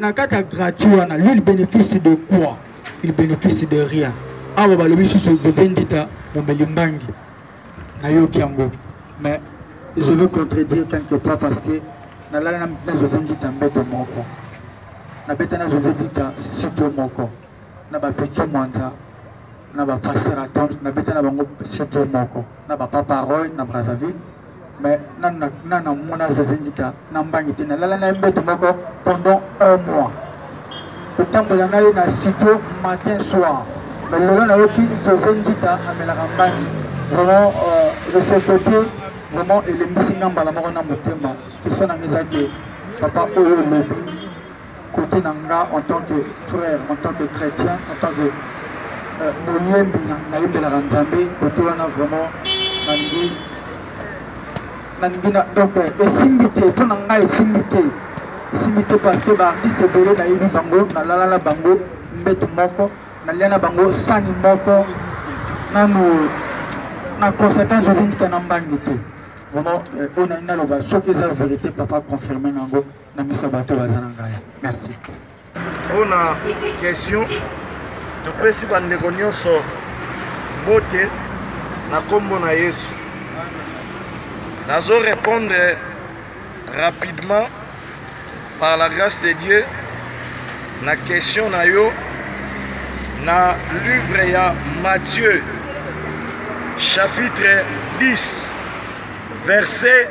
na kati ya gratuit wana lui il bénéfice de quoi il bénéfice de rien awa balobi susu veve ndita momeli mbangi nayoki yango mais je veux contredire quelque part parce que nalala na veve ndita mbeto moko nabeta na veve ndita sito moko na bapeti mwanza na ba pasteur attente na beta na bango surtout moko na ba papa roy na brazzaville mais na na na na mona zazindika na mbangi te na lala na mbeto moko pendant un mois kotambola na ye na studio matin soir mais lelo nayoki zazindika amelaka mbangi vraiment euh, de ce côté vraiment elembisi nga mbala moko na motema question na nga eza ke papa oyo lobi Côté na nga en tant que frère, en tant que chrétien, en tant que euh, moyembi nayembelaka Nzambe, côté wana vraiment nalingi nalingi na donc esimbi te mpo na ngai esimbi te esimbi te parce que baartiste ebele nayebi bango nalala na bango mbeto moko nalia na bango sani moko nanu na conséquence ozindika na mbangi te vraiment oyo nalingi naloba soki eza verité papa confirme na yango na miso ya bato baza na ngai merci mpo na question topesi bandeko nyonso bote na nkombo na yesu nazo répondre rapidement par la grâce de dieu na question na yo na livre ya matthieu chapitre 10 verset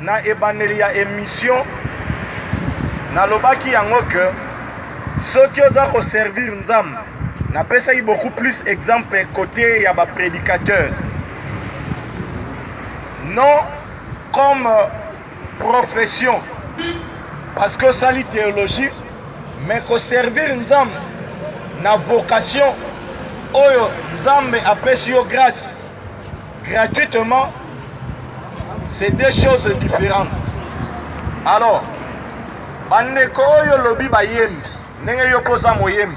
Na ebandeli ya emission nalobaki yango que soki oza ko servir Nzambe napesaki beaucoup plus exemple côté ya ba prédicateurs non comme euh, profession parce que osali théologie mais koservir nzambe na vocation oyo nzambe apesi yo grâce gratuitement c'est deux choses différentes alors bandeko oyo olobi bayembi ndenge yo mpo oza moyembi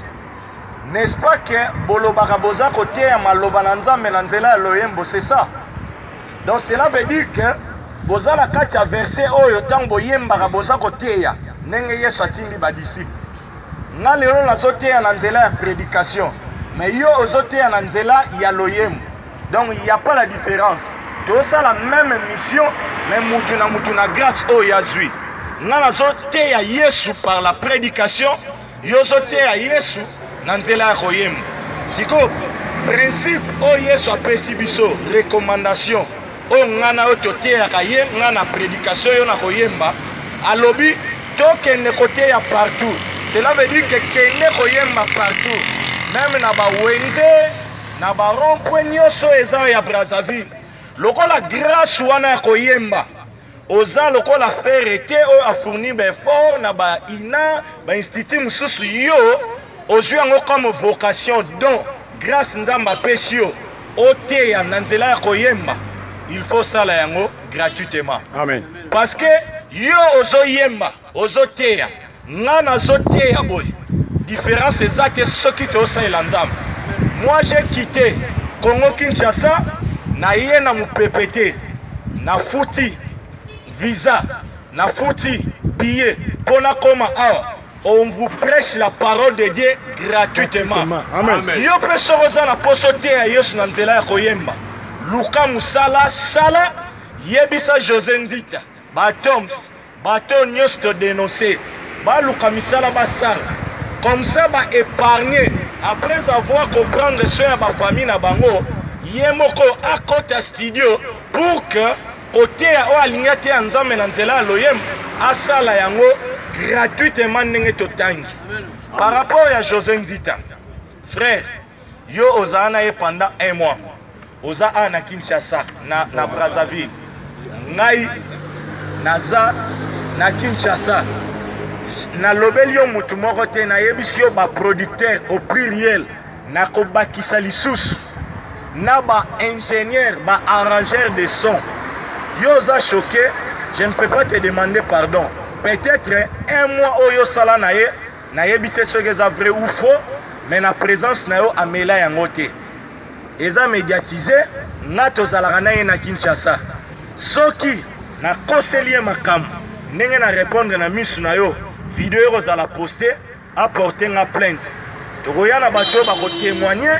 n'est-ce pas que bolobaka boza koteya maloba na nzambe na nzela ya loyembo c'est ça donc cela veut dire que boza na kati ya verset oyo ntango boyembaka boza koteya ndenge yesu atindi badisiple nga lelo nazoteya na nzela ya prédication mais yo ozoteya na nzela ya loyembo Donc il n'y a pas la différence. Tout ça la même mission, mais mutuna mutuna grâce au Yazui. Nana zote ya Yesu par la prédication, yozote ya Yesu nanzela ya koyemba. Siko principe au Yesu apesi biso recommandation. O ngana o toteyaka ye ngana prédication yo na koyemba alobi tokende koteya partout. Cela veut dire que kende koyemba partout. Même na ba wenze na ba rond point nioso eza ya Brazzaville lokola grace wana ya koyemba oza lokola fere te oyo afournir ba effort na ba ina ba institut mosusu yo ozwi yango comme vocation don grace nzambe apesi yo oteya na nzela ya koyemba il faut osala yango gratuitement amen parce que yo ozoyemba Ozo teya nga nazo teya boye difference eza te soki toyosalela nzambe moi j'ai quitté congo kinshasa naye na mopepe te nafuti visa nafuti billet mpo nakoma awa on vous prêche la parole de dieu gratuitement yo mpe soko oza na mposo teya yesu na nzela ya koyemba luka mosala sala yebisa josé nzita Ba tombs, bateau nyoso to denoncer, baluka misala basala. Comme ça ba épargner après avoir comprendre soin ya ba famille na bango, ye moko akota studio pour que koteya oyo alingi ateya nzambe na nzela ya loyembo asala yango gratuitement ndenge totangi par rapport ya josé nzita Frère, yo ozala na ye pendant un mois. Oza a na Kinshasa, na, na Brazzaville. Ngai, naza na Kinshasa. nalobeli yo motu moko te nayebisi yo baproducteur au pluriel nakobakisa lisusu na baingénieur baarrangeur de son yo oza choqué je ne peux pas te demander pardon peut-être un mois oyo osala na ye nayebi te soki eza vrai ou faux mais na présence na yo amela yango te eza médiatise nga tozalaka na ye na kinshasa soki nakoseli ye makambo ndenge na répondre na misu na yo video ekozala poste aporte nga plainte tokoya na bato oyo bakotémoigne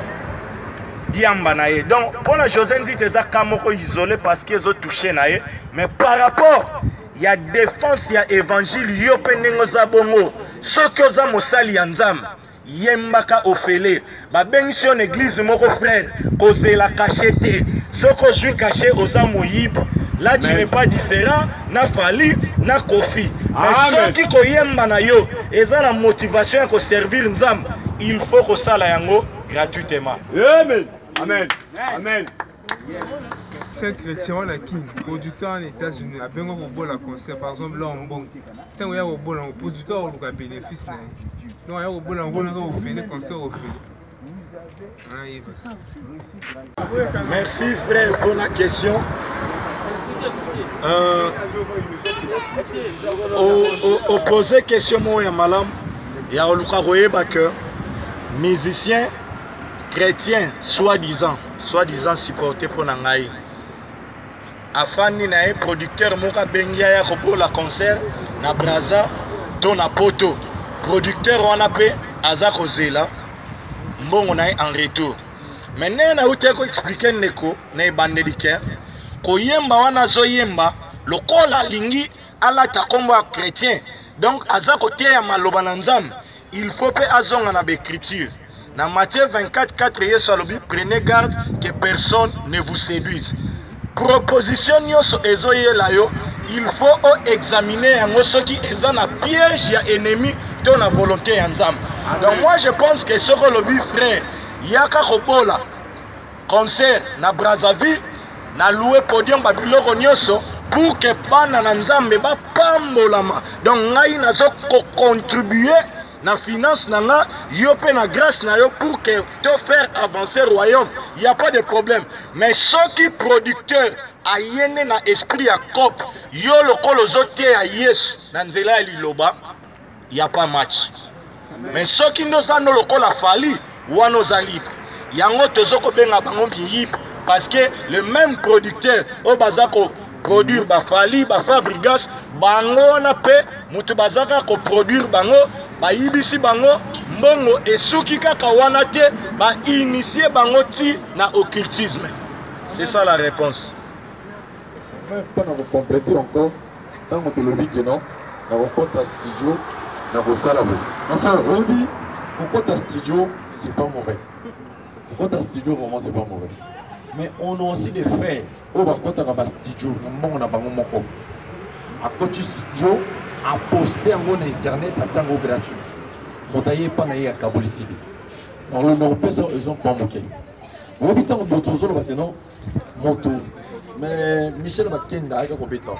diamba na ye donc mpo na josé nzita eza ka moko isole parce que ezotouche na ye mais par rapport ya defense ya evangile yo mpe ndenge oza bongo soki oza mosali ya nzambe yembaka ofele babengisi yo na eglize moko frere kozela kashe te soki ozwi kashe oza moyibi là tu n'es pas différent na fali na kofi mais soki koyemba na yo eza na motivation ya koservir nzambe il faut kosala yango gratuitement amen amen amen C'est chrétien wana kin producteur en États-Unis abenga kobola concert par exemple là en bon ntango ya kobola ngo producteur akoluka bénéfice na ye donc aya kobola ngo naka ofele concert ofele Merci frère pour la question. Euh, opposer question moko ya malamu ya koluka koyeba que musicien chrétien soi-disant soit disant supporte mpo na ngai afandi na ye producteur moko abengi aya kobola concert na braza to na poto producteur wana mpe aza kozela mbongo na ye en retour me ndenge nautaki koexplike ndeko na ebandeli ke koyemba wana azoyemba lokola alingi alata nkombo ya chrétien donc aza koteya maloba na nzambe il faut mpe azonga na baécriture na matthieu 24 4 yesu alobi prenez garde que personne ne vous séduise proposition nyonso ezoyela yo il faut oexamine yango soki eza na piège ya ennemi to na volonté ya nzambe donc moi je pense que soki olobi frère yaka kobola concert na Brazzaville na louer podium ba biloko nyoso pour que bana na Nzambe ba pambolama donc ngai nazo ko contribuer na finance na nga yo pe na grâce na yo pour que to faire avancer royaume il y a pas de problème mais soki producteur aye nde na esprit ya cope yo lokola ozoteya yesu na nzela ya liloba ya pas match mais soki nde oza ndo lokola fali wana oza libre yango tozo kobenga bango miyibi parce que le même producteur oyo baza ko produire bafali bafabrigas bango wana mpe moto baza kaka koproduire bango bayibisi bango mbongo esuki kaka wana te bainitie bango ti na occultisme c'est ça la réponse mpo na kokomplete encore ntango tolobi keno nakokota studio nakosala boye enfin oyebi kokota studio c'est pas mauvais kokota studio vraiment c'est pas mauvais mais on a aussi des frères oyo bakotaka bastudio na mbongo na bango moko akoti studio aposte yango na internet atya yango gratuit moto aye epa na ye akabolisili nakopesa eza mpa moke oyebi ntango boto ozoloba te non moto mais michel bakenda ayaki kobeta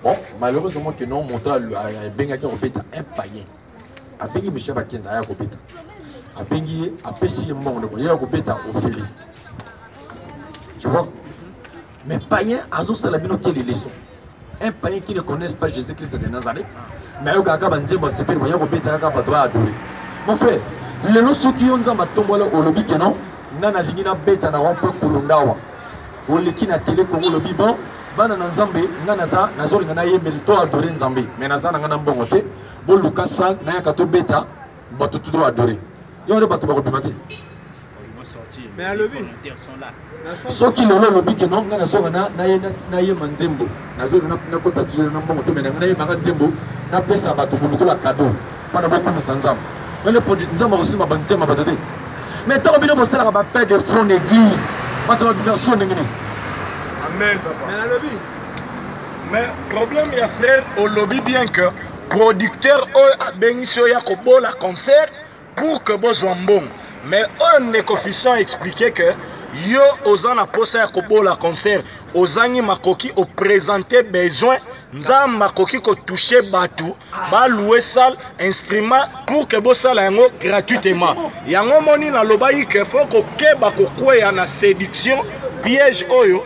bon malheureusement que non moto abengaki kobeta un payen abengi michel bakenda aya kobeta abengi ye apesi ye mbongo ndeko ye ya kobeta ofele tu vois mais payen azosala bino kele leson un païen qui ne connaisse pas Jésus-Christ de Nazareth, mais ayo kaka ba nzembo sepeli boya kobeta kaka bato ba adore. Mon frère, lelo soki yo nzambe atombola olobi ke non, nga nalingi nabeta na rond-point Kulundawa. Oleki na tele Congo olobi bon, bana na nzambe nga naza nazolinga nayembeli to adore nzambe, mais naza na nga na mbongo te, boluka salle nayaka tobeta bato tudo ba adore yo wana bato bakobima te soki lelo olobi ke nonga nazonga nayema nzembo nazonga nakota tizolo na mbongo te menanga nayemaka nzembo napesa bato bolokola kado mpona bokumisa nzambe mele podi nzambe akosimba bantema bato te mais ntango bino bosalaka bapere de fond na église bato babiversion ndenge nini amen papa mais problème ya frère olobi bien que producteur oyo abengisi yo ya kobola concert pour que bozwa mbongo mais oyo ndeko fiston explike que yo oza na mposa ya kobola concert ozangi makoki opresente besoin nzambe akoki kotouche bato baloue sale instrument pour que bosala yango gratuitement yango omoni nalobaki ke fo kokeba kokweya na séduction piège oyo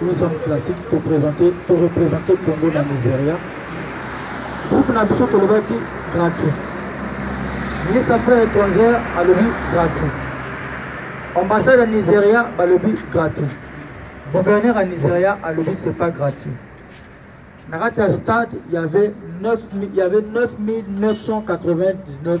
Nous sommes classiques pour présenter, pour représenter Congo na Nigeria. Groupe na biso tolobaki gratuit. Ministre ya Affaires étrangères alobi gratuit. Ambassade ya Nigeria balobi gratuit. Gouverneur ya Nigeria alobi c'est pas gratuit. Na kati ya stade, il y avait 9 il y avait 9999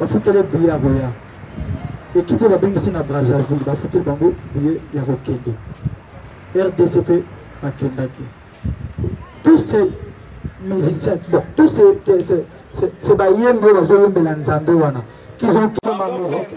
bafutele biye ya koya ekipe oyo babengisi na brazzaville bafuteli bango biye ya kokende rdc mpe bakendaki tous ces musiciens bon tous ces bayembi oyo bazoyembela nzambe wana qu'ils ont ma musique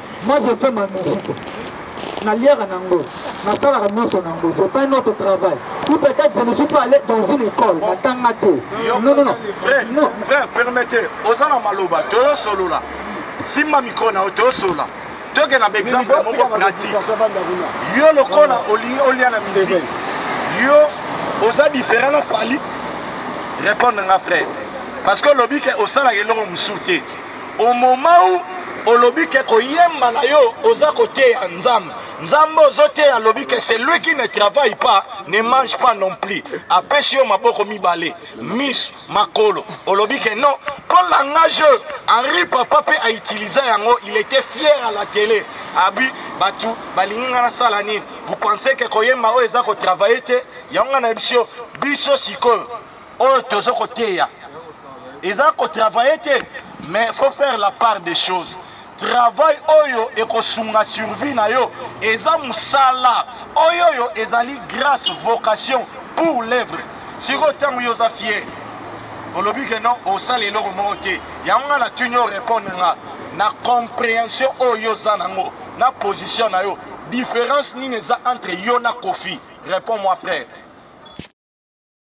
Moi je fais ma musique. Naliaka nango, nasalaka nyonso nango, je pas un autre travail. Ou peut-être je ne suis pas allé dans une école, natanga te. Non, non, non. Frère, non. frère, permettez, oza na maloba, toyosolola. Simba micro na yo, toyosolola. toke na baexemple moko pratique yo lokola olingi olia na misiki yo oza différent na fali répondre nga frère parce que olobi ke osalaka eloko mosusu te au moment où olobi ke koyemba na yo oza koteya nzambe nzambe ozoteya alobi ke celui qui ne travaille pas ne mange pas non plus apesi yo maboko mibale miso makolo olobi ke non mpo langage oyo henri papa mpe autiliza yango il était fier à la télé abi bato balingi ngai nasala nini vous pensez ke koyemba oyo eza kotravaille te yango ngai nayebisi yo biso sikoyo oyo tozo koteya eza kotravaille te mais faut faire la part des choses travail oyo ekosunga survie na yo eza mosala oyo oyo ezali grâce vocation pour l'œuvre sikoyo ntango yo oza fier olobi ke non osala eloko moko te yango nga natuni yo repondre nga na comprehension oyo oza nango na position na yo différence nini eza entre yo na kofi réponds moi frère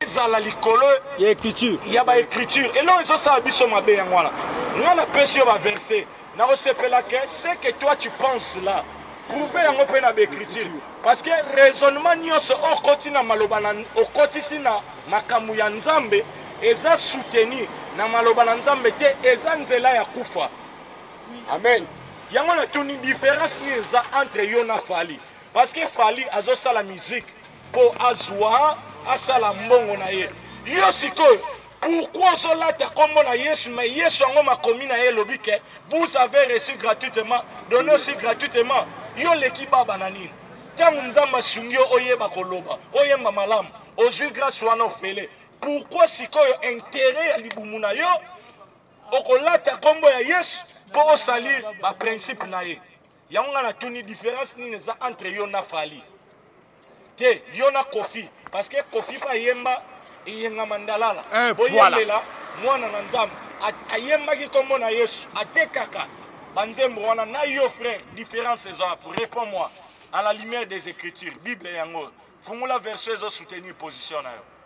ezala likolo ya écriture ya ba écriture eloko ezosala biso mabe yango wana nga napesi yo baverse nakosepela ke ce que toi tu penses là prouve yango mpe na baécriture parce que raisonnement nyonso okoti na maloba na okotisi na makambo ya nzambe eza soutenu na maloba na nzambe te eza nzela ya kufa amen yango natuni différence nini eza entre yo na fali parce que fali azosala musique mpo azwa asala mbongo na ye yo sikoyo pourquoi ozolata nkombo na yesu me yesu yango makomi na ye elobi ke vous avez reçu gratuitement donne aussi gratuitement yo oleki baba na nini ntango nzambe asungi yo oyeba koloba oyemba malamu ozwi grâce wana ofele pourquoi sikoyo intere ya libumu na yo okolata nkombo ya yesu mpo osalir baprincipe na ye yango ngai natuni différence nini eza entre yo na fali te yo na kofi parce que kofi mpe ayemba eyenga mandalala eh, boyembela mwana na nzambe ayembaki nkombo na yesu atekaka banzembo wana na yo frère différence eza wapi réponds moi à la lumière des écritures bible yango fungola version ezosoutenir position na yo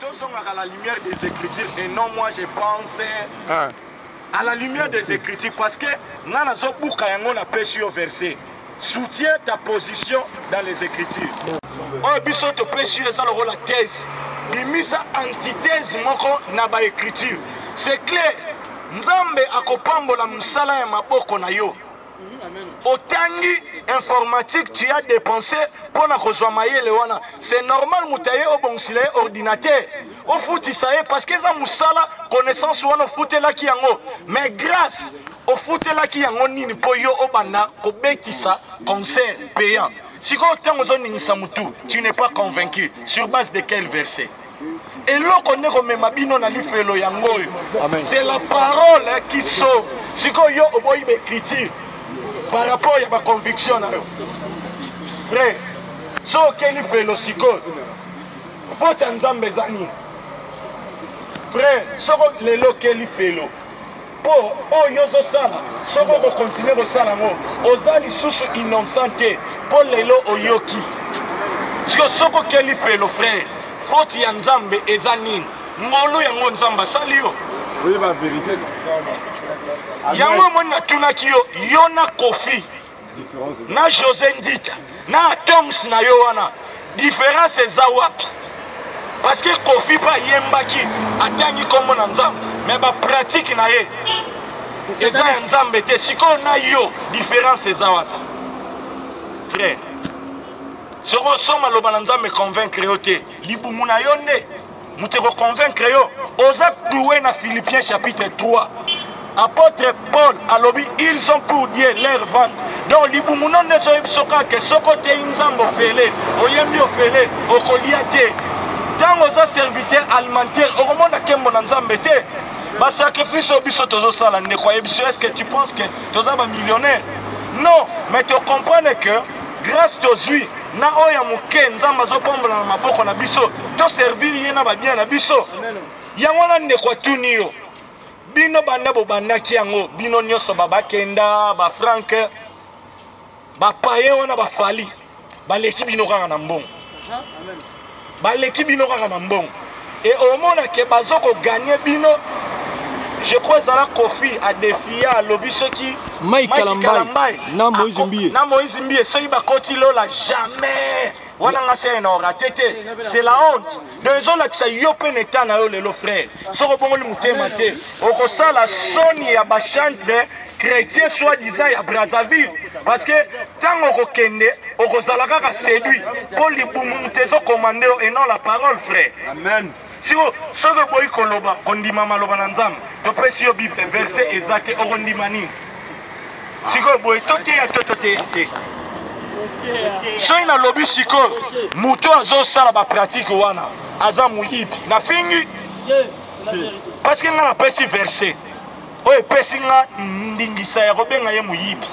tozongaka la lumière des écritures et non moi je pense ah. à la lumière des écritures parce que nga nazobuka yango napesi yo verset soutient ta position dans les écritures oyo biso topesi yo eza lokola thèse bimisa antithèse moko na baécriture c'est clair nzambe akopambola mosala ya maboko na yo otangi informatique tu as dépensé mpo na kozwa mayele wana c'est normal moto aye obongisela ye ordinateur ofutisa ye parce que eza mosala connaissance wana ofutelaki yango mais grâce ofutelaki yango nini mpo yo obanda kobetisa concert payant sikoyo ntango ozoningisa motu tu n'es pas convaincu sur base de quel verset eloko nde komema bino na lifelo yango oyo c'est la parole qui sauve sikoyo yo oboyi baecriture par rapport ya baconviction na yo vrai so oke lifelo sikoyo voti ya nzambe eza nini vrai soko lelo oke lifelo Po oyo yo ozo sala soki oko continuer ko sala ngo oza lisusu innocent te po lelo oyoki siko soki okeli felo frère faute ya Nzambe eza nini ngolu yango Nzambe asali yo Oui ba vérité yango omoni natunaki yo yo na kofi na josé ndita na atoms na yo wana différence eza wapi parce que kofi mpe ayembaki atangi nkombo na nzambe me bapratike na ye eza ya nzambe te sikoyo na yo différence eza wapi frère soki osoma loba na nzambe convaincre yo te libumu na yo nde moto ekoconvaincre yo oza cloue na philippien chapitre 3 apôtre paul alobi ils ont pour dieu leur vente donc libumu no nde ezoyebi biso kaka ke soki oteyi nzambe ofele oyembi ofele okolia te ntango oza serviteur alimentaire okomona nkembo na nzambe te basacrifice oyo biso tozosala ndeko ayebi biso est ce que tu penses que toza bamillionnaire non mais tocomprendre que Grace tozui na oyo ya moke nzambe azobombola na maboko na biso toservir ye na babia na biso yango wana ndeko atuni yo bino banda bobandaki yango bino nyonso babakenda bafranke bapaye wana bafali baleki bino kaka na mbongo baleki bino kaka na mbongo e omona ke bazo koganye bino je crois ezala kofi adefia alobi soki mike kalambai na moise mbie na moise mbie soki bakoti lola jamais wana nga se na orate te c'est la honte donc ezolakisa yo mpe na eta na yo lelo frère soki obongoli motema te okosala soni ya bachantre chrétien soit disant ya brazzaville parce que ntango okokende okozala kaka séduit mpo libumu moto ezokomande yo et non la parole frère amen siko soki oboyi koloba kondima maloba na nzambe topesi yo bible verse eza te okondima nini sikoyo boye toteya to toteya te soki nalobi sikoyo moto azosala bapratike wana aza moyibi nafingi parce que nga napesi verse oyo epesi nga ndingisa ya kobenga ye moyibi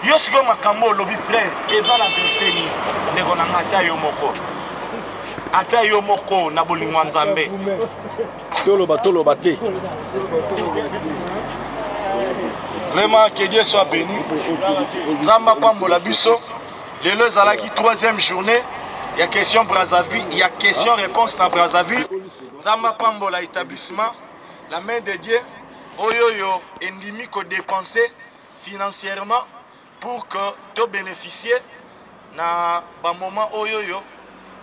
yo sikoyo makambo olobi frere eza na verse nini ndeko na nga ata yo moko ata yo moko na bolingo ya nzambe toloba toloba te vraiment que dieu soit béni nzambe apambola biso lelo ezalaki troisième journée ya question brazzaville ya question réponse na brazzaville Nzambe apambola etablissement la main de Dieu oyo yo endimi ko dépenser financièrement pour que to bénéficier na ba moment oyo yo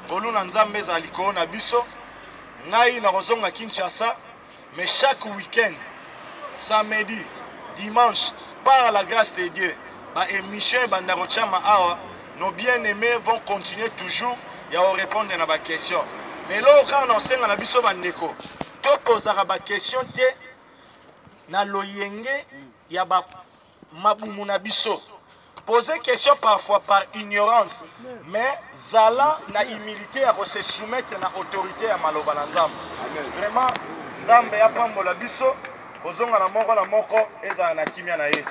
ngolu na Nzambe ezali ko na biso ngai na kozonga Kinshasa mais chaque week-end samedi dimanche par la grâce de Dieu ba émission ebanda kochama awa Nos bien aimés vont continuer toujours ya ko répondre na ba questions. Mais loko kaka na osenga na biso ba ndeko to posaka ba questions te na loyenge ya ba mabumu na biso. Poser question parfois par ignorance, mais zala na humilité ya ko se soumettre na autorité ya maloba na Nzambe. Vraiment Nzambe apambola biso kozonga na moko na moko ezala na kimia na Yesu.